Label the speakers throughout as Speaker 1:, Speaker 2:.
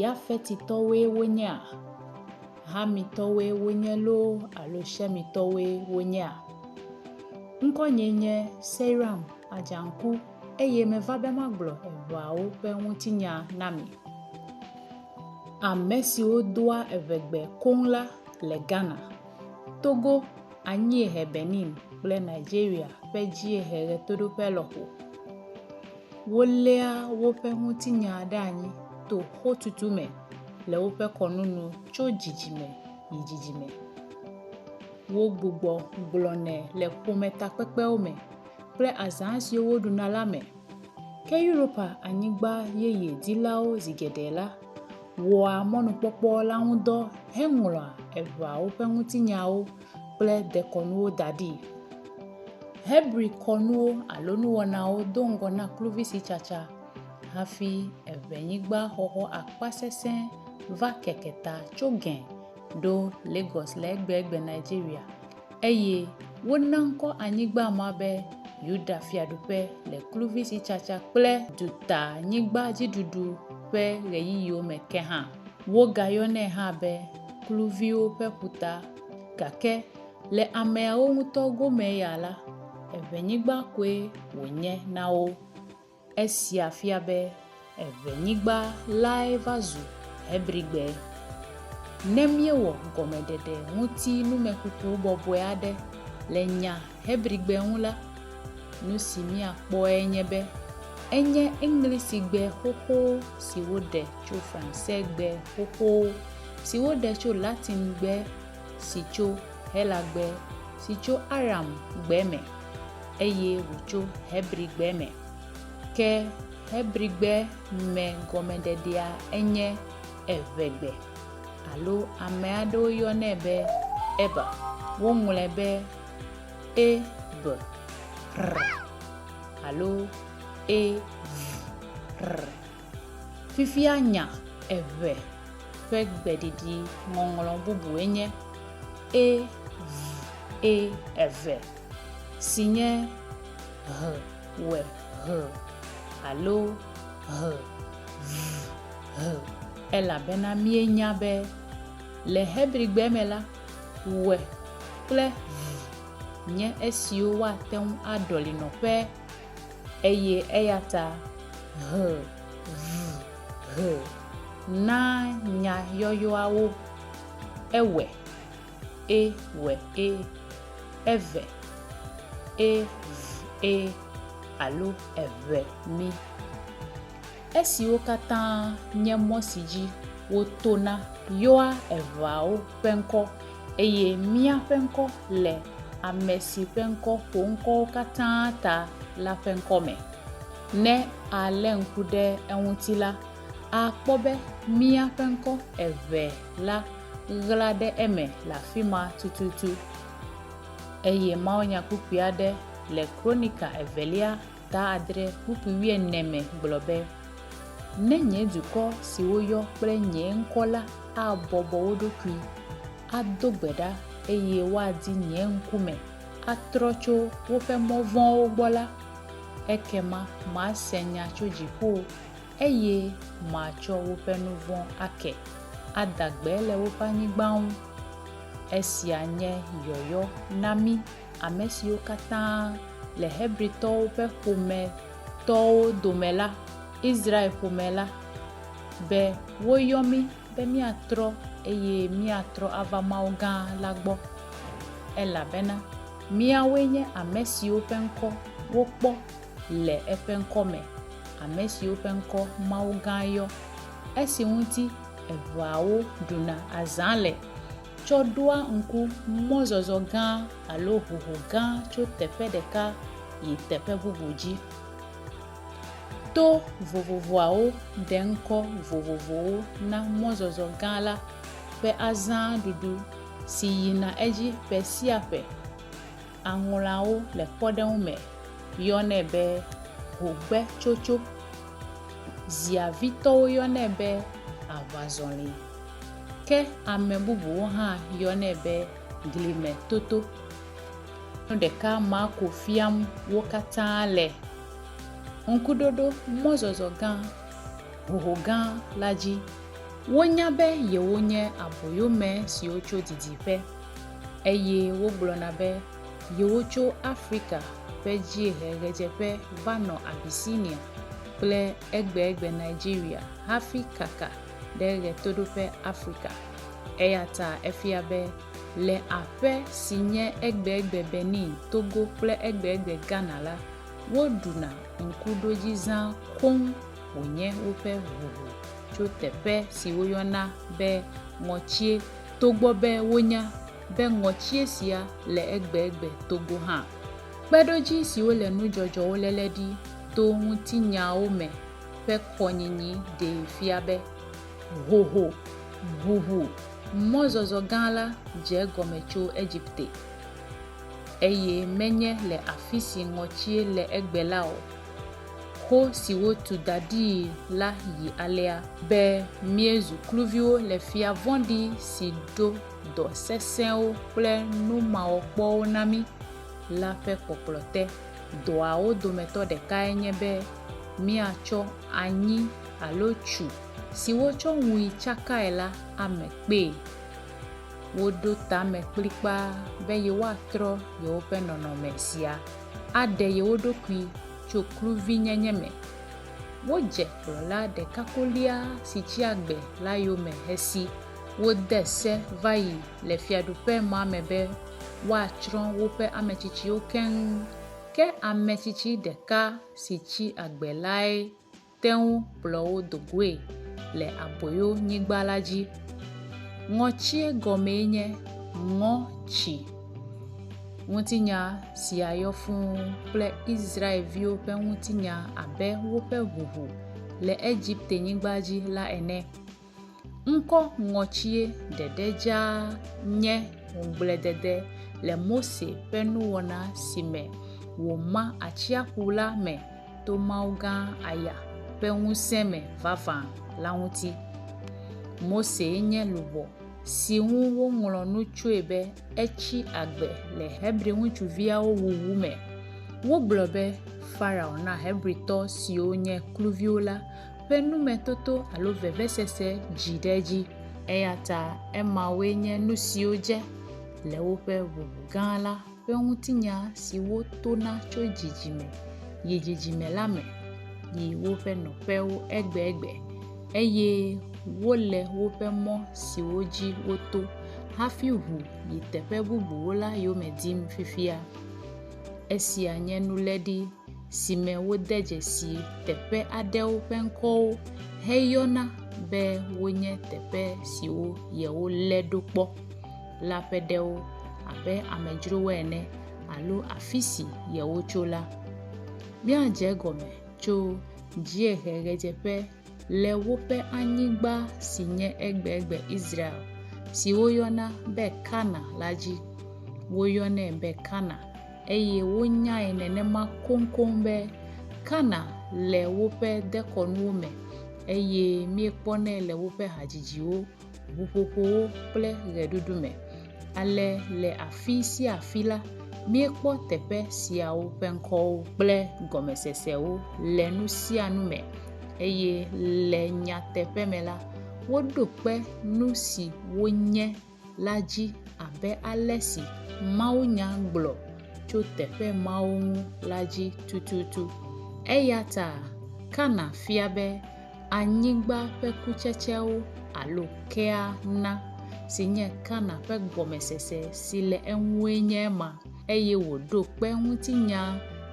Speaker 1: Yafetitɔwoe wonyea? Hamitɔwoe wonye loo alo Shemitɔwoe wonyea? Ŋkɔnyee nye Seiram Adjanku eye meva be magblɔ eveawo ƒe ŋutinya na mi. Ame siwo doa evegbe koŋ la le Ghana, Togo, anyiehe Benin kple Nigeria ƒe dziehe ɣetoɖoƒe lɔƒo. Woléa woƒe ŋutinya ɖe anyi to xotutu me le woƒe kɔnu nu tso dzidzime yi dzidzime. Wogbugbɔ gblɔnɛ le ƒometakpekpewo me kple azã siwo woɖuna la me. Ke Europa Anyigba Yeye dilawo zi geɖe la wɔa mɔnukpɔkpɔ la ŋudɔ heŋlɔa eʋeawo ƒe ŋutinyawo kple dekɔnuwo da ɖi. Hebri kɔnuwo alo nuwɔnawo do ŋgɔ na kluvisitsatsa hafi eŋenyigbaxɔxɔ akpasesẽ va keke ta tso Gɛn ɖo Lagos le egbegbe Nigeria eye wona ŋkɔ anyigba ma be Yuda Fiaɖuƒe le kluvisitsatsa kple dutanyigbadziɖuɖu ƒe ɣeyiɣiwo me ke hã. Wogayɔnɛ hã be kluviwo ƒe ƒuta gake le ameawo ŋutɔ gome ya la, eŋenyigba koe wònye na wo. Esia fia be eŋenyigba lae va zu Hebrigbe. Ne míewɔ gɔmeɖeɖe ŋuti numekuku bɔbɔe aɖe le nya Hebrigbe ŋu la, nu si míakpɔe nye be enye Eŋlisigbe xoxo si woɖe tso Fransegbe xoxo si woɖe tso Latingbe si tso Helagbe si tso Aramgbe me eye wòtso Hebrigbe me. Ke Hebrigbe me gɔmeɖeɖea enye Eʋegbe, alo ame aɖewo yɔnɛ be Eber. Woŋlɔe be e b r alo e v r. Fifia nya eve ƒe gbeɖiɖi ŋɔŋlɔ bubue nye e v e eve, si nye ʋ w ʋ alo ʋ v ʋ, elabena míenya be le Hebrigbe me la, ʋe kple vi nye esiwo woate ŋu aɖɔli nɔƒe eye eya ta ʋe, vi, he na nya yɔyɔawo ewe, e, we, e, eve, e, v, e, alo eʋe, mi. esiwo katã nye mɔ si dzi wotona yɔa eŋeawo ƒe ŋkɔ, eye míaƒe ŋkɔ le ame si ƒe ŋkɔ ƒo ŋkɔwo katã ta la ƒe ŋkɔ me. Ne alé ŋku ɖe eŋuti la, akpɔ be míaƒe ŋkɔ eve la ɣla ɖe eme le afi ma tututu. Eye mawunyakpukpui aɖe le Kronika Evelia Ta adre kpukpui wuiene me gblɔ be, Ne nye dukɔ si woyɔ kple nye ŋkɔ la abɔbɔ wo ɖokui, ado gbe ɖa, eye woadi nye ŋkume, atrɔ tso woƒe mɔ vɔ̃wo gbɔ la, ekema mase nya tso dziƒo, eye matsɔ woƒe nu vɔ̃ ake, ada gbe le woƒe anyigba ŋu. Esia nye yɔyɔ na mí. ame siwo katã le Hebritɔwo ƒe ƒometɔwo dome la, Israel-ƒome la, be woyɔ mí be míatrɔ eye míatrɔ ava Mawu gã la gbɔ, elabena míawoe nye ame siwo ƒe ŋkɔ wokpɔ le eƒe ŋkɔ me, ame siwo ƒe ŋkɔ Mawu gã yɔ, esi ŋuti eveawo ɖuna azã le. tsɔ ɖoa ŋku mɔzɔzɔ gã alo hoho gã tso teƒe ɖeka yi teƒe bubu dzi. To vovovoawo ɖe ŋkɔ vovovowo na mɔzɔzɔ gã la ƒe azãɖuɖu si yina edzi ƒe sia ƒe. Aŋlɔawo le kpɔɖeŋu me yɔnɛ be hogbetsotso. Ziavitɔwo yɔnɛ be aʋazɔli. Ke ame bubuwo hã yɔnɛ be glime toto. Nu ɖeka Marko fiam wo katã le Ŋkuɖoɖo mɔzɔzɔ gã hoho gã la dzi. Wonya be yewonye aboyome siwo tso didiƒe, eye wogblɔna be yewotso Afrika ƒe dziehe ɣedzeƒe va nɔ Abyssinia kple egbegbe Nigeria hafi kaka ɖe Ɣetoɖoƒe Afrika, eyata efia be le aƒe si nye egbegbe Benin, Togo kple egbegbe Ghana la, woɖuna ŋkuɖodzizã koŋ wònye woƒe ʋuʋu tso teƒe si woyɔna be ŋɔtsie togbɔ be wonya be ŋɔtsie sia le egbegbe Togo hã. Kpeɖodzi siwo le nudzɔdzɔwo léle ɖi to ŋutinyawo me ƒe kɔnyinyi ɖee fia be hoho, ʋuʋu, mɔzɔzɔ gã la dze egɔme tso Egipte, eye menye le afisi ŋɔtsie le egbe la o. Ho si wotu da ɖii la yi alea. Be míezu kluviwo le fia vɔ̃ɖi si ɖo dɔ sesẽwo kple numawɔkpɔwo na mí la ƒe kpɔkplɔ te. Dɔawo dometɔ ɖekae nye be míatsɔ anyi alo tsu si wotsɔ ŋui tsakae la ame kpee. Woɖo tame kplikpaa be yewoatrɔ yewoƒe nɔnɔme sia aɖe yewo ɖokui tso kluvinyenye me. Wodze kplɔla ɖeka kolia si tsi agbe la yome hesi wode se va yi le Fiaɖuƒemɔa me be, woatsrɔ̃ woƒe ame tsitsiwo keŋ. Ke ame tsitsi ɖeka si tsi agbe lae te ŋu kplɔ wo do goe le aboyonyigba la dzi. Ŋɔtsie gɔmee nye Ŋɔ Tsi. Ŋutinya sia yɔ fũu kple Israel-viwo ƒe ŋutinya abe woƒe ʋuʋu le Egipte-nyigba dzi la ene. Ŋkɔ ŋɔtsie ɖeɖe dzaa nye ŋugbledede le Mose ƒe nuwɔna si me wòma atsiaƒu la me to Mawu gã Aya ƒe ŋusẽ me vavã la ŋuti. Mosee nye luʋɔ si ŋu woŋlɔ nu tsoe be etsi agbe le Hebri ŋutsuviawo wuwu me. Wogblɔ be Farao na Hebritɔ siwo nye kluviwo la ƒe numetoto alo vevesese dzi ɖe edzi. Eya ta emawoe nye nu siwo dze le woƒe ʋuʋu gã la ƒe ŋutinya siwo tona tso dzidzime yi dzidzime la me yi woƒe nɔƒewo egbegbe, eye wole woƒe mɔ siwo dzi woto hafi ʋu yi teƒe bubuwo la yome dim fifia. Esia nye nuléɖi. si me wode dzesi teƒe aɖewo ƒe ŋkɔwo heyɔna be wonye teƒe siwo yewolé ɖo kpɔ la ƒe ɖewo abe amedzrowoe ene alo afi si yewotso la. Míadze egɔme tso dzieheʋedzeƒe. le woƒe anyigba si nye egbegbe Israel, si woyɔna be Kana la dzi. Woyɔnɛ be Kana, eye wonyae nenema koŋkoŋ be Kana le woƒe dekɔnuwo me, eye míekpɔnɛ le woƒe hadzidziwo, ʋuƒoƒowo kple ʋeɖuɖu me. Ale le afi sia afi la, míekpɔ teƒe siawo ƒe ŋkɔwo kple gɔmesesewo le nu sia nu me eye le nyateƒe me la, woɖo kpe nu si wonye la dzi abe ale si mawunya gblɔ tso teƒe mawo ŋu la dzi tututu. Eya ta Kana fia be anyigba ƒe kutsetsewo alo kea na, si nye Kana ƒe gɔmesese si le eŋue nye ema, eye wòɖo kpe ŋutinya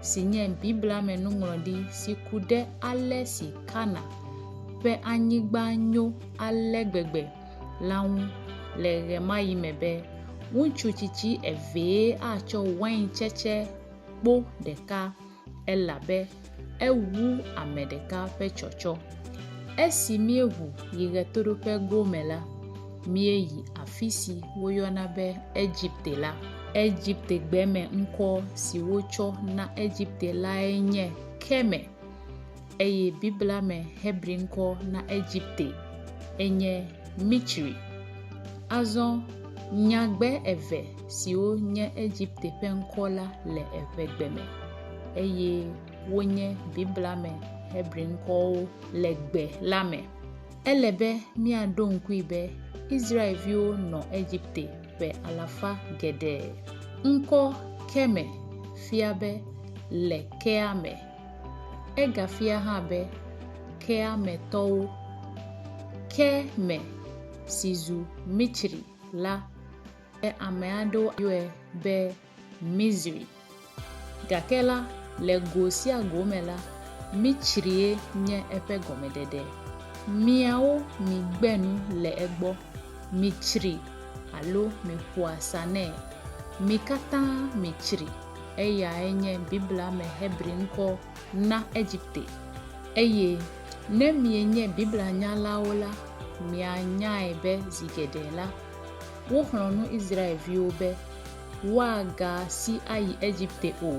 Speaker 1: si nye Biblia me nuŋlɔɖi si ku ɖe ale si Kana ƒe anyigba nyo ale gbegbe la ŋu le ɣemaɣi me be, Ŋutsu tsitsi evee atsɔ waintsetse kpo ɖeka elabe ewu ame ɖeka ƒe tsɔtsɔ. Esi míeʋu yi ɣetoɖoƒe gome la, míeyi afisi woyɔna be Egipte la. Egiptegbeme ŋkɔ si wotsɔ na Egipte lae nye Keme. eye Biblia me Hebri ŋkɔ na Egipte enye Mitsri. Azɔ nyagbe eve siwo nye Egipte ƒe ŋkɔ la le eŋegbe me eye wonye Biblia me Hebri ŋkɔwo le gbe la me. Ele be míaɖo ŋkui be Israelviwo nɔ Egipte ƒe alafa geɖe. Ŋkɔ Keme fia be le kea me. Egafia hã be kea me tɔwo, ke me si zu Mitsri la, ke ame aɖewo yɔe be Mizri. Gake la, le go sia go me la, Mitsrie nye eƒe gɔmeɖeɖe. Miawo migbe nu le egbɔ, mitsri alo miƒoa sa nɛ. Mi katã mitsri. Eyae nye Biblia me Hebri ŋkɔ na Egipte. Eye ne mienye Biblia nyalawo la, mianyae be zi geɖe la, woxlɔ̃ nu Israelviwo be woagasi ayi Egipte o,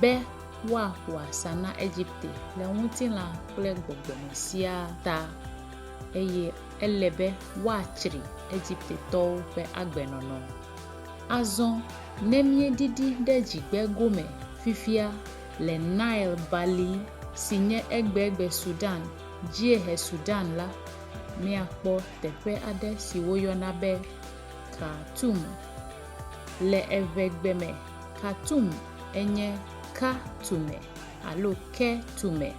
Speaker 1: be woaƒo asa na Egipte le ŋutilã kple gbɔgbɔ me siaa ta, eye ele be woatsri Egiptetɔwo ƒe agbenɔnɔ. Azɔ, ne míedidi ɖe dzigbe gome fifia le Nile Bali si nye egbegbe Sudan, dziehe Sudan la, míakpɔ teƒe aɖe si woyɔna be Khartoum. Le eŋegbe me, Khartoum enye Ka Tume alo Ke Tume,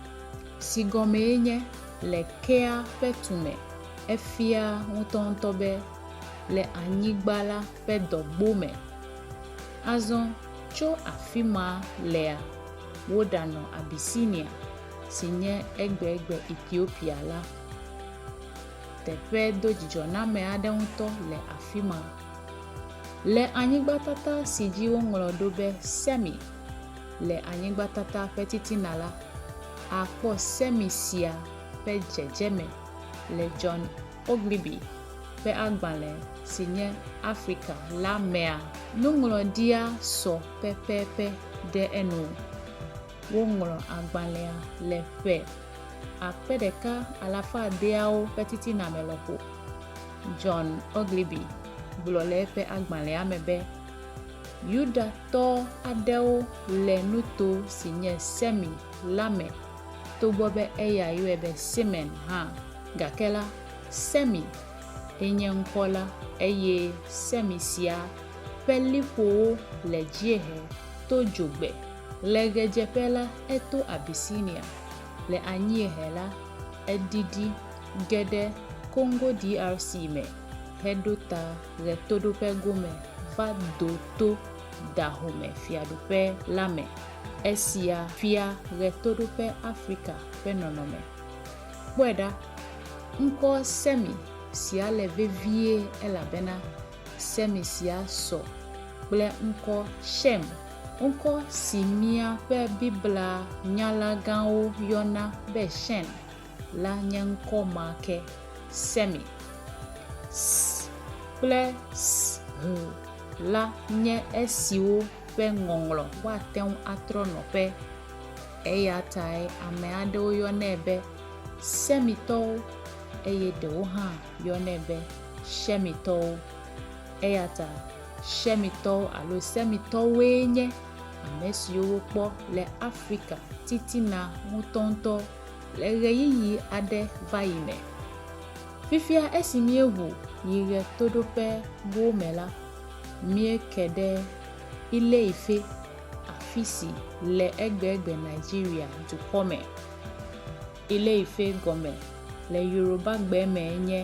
Speaker 1: si gɔmee nye Le Kea ƒe Tume. Efia ŋutɔŋutɔ be le anyigba la ƒe dɔgbo me. Azɔ tso afi ma lea, woɖanɔ Abisinia, si nye egbegbe Etiopia la. Teƒe dodzidzɔname aɖe ŋutɔ le afi ma. Le anyigbatata si dzi woŋlɔ ɖo be Semi le anyigbatata ƒe titina la, àkpɔ Semi sia ƒe dzedzeme le John Ogilvy ƒe agbalẽ si nye Afrika la mea? Nuŋlɔɖia sɔ pɛpɛpɛ ɖe enu. Woŋlɔ agbalẽa le ƒe akpe ɖeka alafa adeawo ƒe titina me lɔƒo. John Ogilvy gblɔ le eƒe agbalẽa me be, Yudatɔ aɖewo le nuto si nye Semi la me, togbɔ be eya yɔe be Semen hã. Gake la, Semi ye nye ŋkɔ la, eye Semi sia ƒe liƒowo le dziehe to dzogbe. Le ɣedzeƒe la, eto Abisinia, le anyiehe la, edidi ge ɖe Kongo DRC me heɖo ta ɣetoɖoƒe gome va do to Dahome Fiaɖuƒe la me. Esia fia ɣetoɖoƒe Afrika ƒe nɔnɔme. Kpɔe ɖa, ŋkɔ Semi sia le vevie elabena Semi sia sɔ kple ŋkɔ Xem, ŋkɔ si míaƒe Biblia nyala gãwo yɔna be Xem la nye ŋkɔ ma ke, Semi. S kple Sh la nye esiwo ƒe ŋɔŋlɔ woate ŋu atrɔ nɔƒe. Eya tae ame aɖewo yɔnɛ be Semitɔwo, eye ɖewo hã yɔnɛ be Shemitɔwo. Eya ta Shemitɔwo alo Semitɔwoe nye ame siwo wokpɔ le Afrika titina ŋutɔŋutɔ le ɣeyiɣi aɖe va yi me. Fifia esi míeʋu yi ɣetoɖoƒewo me la, míeke ɖe Ile-Ife, afisi le egbegbe Nigeria dukɔ me. Ile-Ife gɔme le Yorubagbe me nye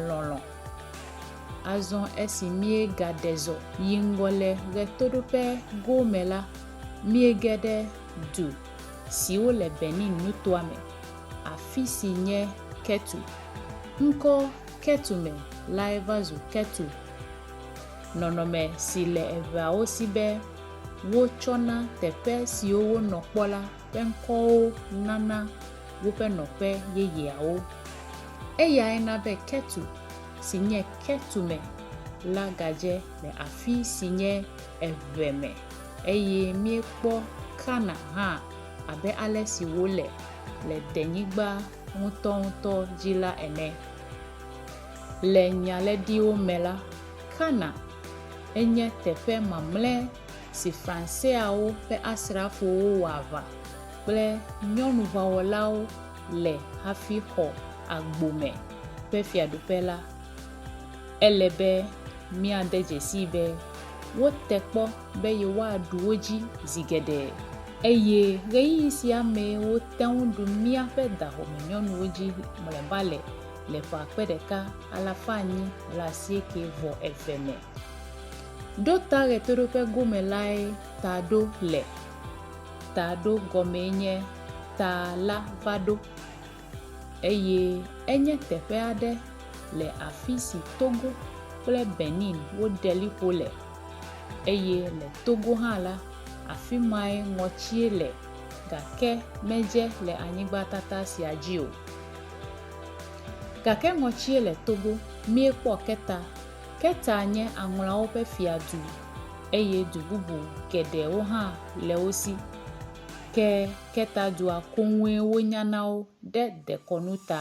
Speaker 1: lɔlɔ. Azɔ esi míegadezɔ yi ŋgɔ le ɣetoɖoƒe goo me la, míege ɖe du siwo le Benin nutoa me, afisi nye Ketu. Ŋkɔ Ketu me lae va zu Ketu, nɔnɔme si le eŋeawo si be, Wotsɔ na teƒe siwo wonɔ kpɔ la ƒe ŋkɔwo nana woƒe nɔƒe yeyeawo. Eyae na be Ketu, si nye Ketume, la gadze le afi si nye eve me, eye míekpɔ Kana hã abe ale si wòle le denyigba ŋutɔŋutɔ dzi la ene. Le Nyalɛ̃ɖiwo me la, Kana, enye teƒe mamlɛ si Franseawo ƒe asrafowo wɔ aʋa kple nyɔnuʋawɔlawo le hafi xɔ agbo me ƒe fiaɖuƒe la. Ele be míade dzesii be wote kpɔ be yewoaɖu wo dzi zi geɖe, eye ɣeyiɣi sia mee wote ŋu ɖu míaƒe dahome nyɔnuwo dzi mlɔeba le le ƒe akpe ɖeka alafa enyi blaasieke vɔ eve me. Ɖo ta ɣetoɖoƒe gome lae ta ɖo le. Ta ɖo gɔmee nye ta la va ɖo, eye enye teƒe aɖe le afi si Togo kple Benin woɖe liƒo le, eye le Togo hã la, afi mae ŋɔtsie le, gake medze le anyigbatata sia dzi o. Gake ŋɔtsie le Togo míekpɔ Keta. Keta nye aŋlawo ƒe fiadu eye du bubu geɖewo hã le wo si. Ke Keta dua koŋue wonya na wo ɖe dekɔnu ta.